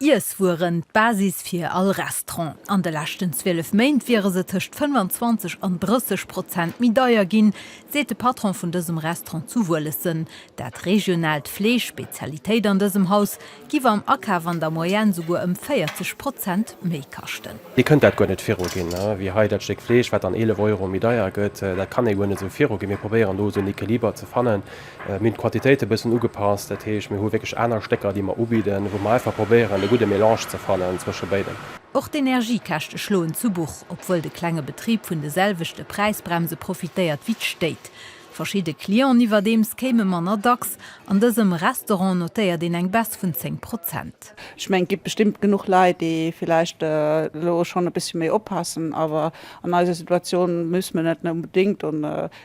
Iesswueren, d'Basis fir all Restaurant. An de leschten 12 Méint wiere se tëscht 25 an 30 Prozent méi deier ginn, seet de Patron vun dësem Restaurant zu Wuelessen. Dat regionaalt Fleesch, Spezialitéit an dësem Haus, giff am Akaf an der Moyenne souguer ëm 40 Prozent méi kaschten. Dir kënnt dat guer net viruginn, wéi hei dat Stéck Fleesch, wat dann 11 Euro méi deier gëtt. Dat kann ee guer net esou viruginn. Mir probéieren do esou en Equiliber ze fannen. Mir hunn d'Quantitéit e bëssen ugepasst, dat heescht, mir hu wierklech aner Stécker, déi mer ubidden, wou mer einfach probéieren, de gudde Melange ze fannen zwësche béidem. Och d'Energiekäschte schloen zu Buch, obwuel de klenge Betrib vun de selwechte Präisbremse profitéiert wéi d'Stéit. Verschidde Clienten iwwerdeems kéime manner dacks. An dësem Restaurant notéiert een eng Baisse vun 10 Prozent. Ech mengen, et gi bestëmmt genuch Leit, déi villäicht elo schonn e bëssche méi oppassen, awer an eiser Situatioun muss mir net onbedéngt.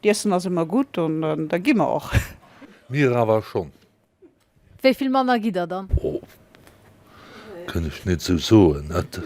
D'Iessen ass emmer gudd an da gi mer och. Mir awer schon. Wéi vill Manner gitt der dann? Oh, kënn ech net sou soen, et.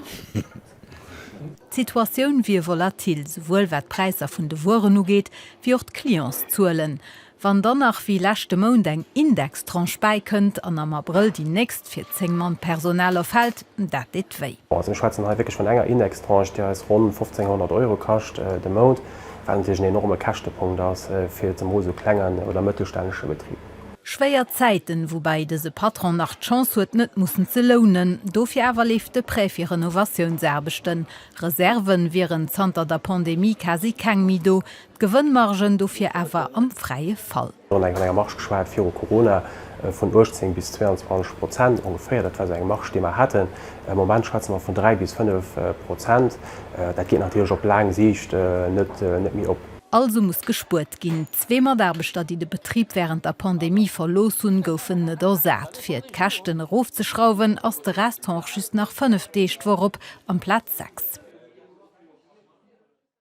D'Situatioun wier volatil, souwuel wat d'Präisser vun de Wueren ugeet, wéi och d'Clientszuelen. Wann dann nach wéi leschte Mount eng Indextranche bäikënnt an am Abrëll déi nächst fir 10 Mann Personal erfält, dat deet wéi. Also mir schwätzen hei wierklech vun enger Indextranche, déi eis ronn 1.500 Euro kascht de Mount. wat natierlech en enorme Käschtepunkt ass fir zemools esou klengen oder mëttelstännege Betrib. Schwéier Zäiten, woubäi dëse Patron nach d'Chance huet net mussen ze lounen. Dofir awer leeft de Prêt fir Renovatiounsaarbechten. Reserve wieren zanter der Pandemie quasi keng méi do, d'Gewënnmargen dofir awer am fräie Fall. Mir hunn eng vun enger Marge geschwat viru Corona vun 18 bis 22 Prozent ongeféier. Dat war esou eng Marge, déi mer haten. Am Moment schwätze mer vun dräi bis fënnef Prozent. Dat geet natierlech op laang Siicht net méi op. Also muss gespuert ginn. Zwee Mataarbechter, déi de Betrib wärend der Pandemie verlooss hunn, goufen net ersat. Fir d'Käschten erofzeschrauwen, ass de Resthonch just nach fënnef Deeg d'Woch op, amplaz sechs.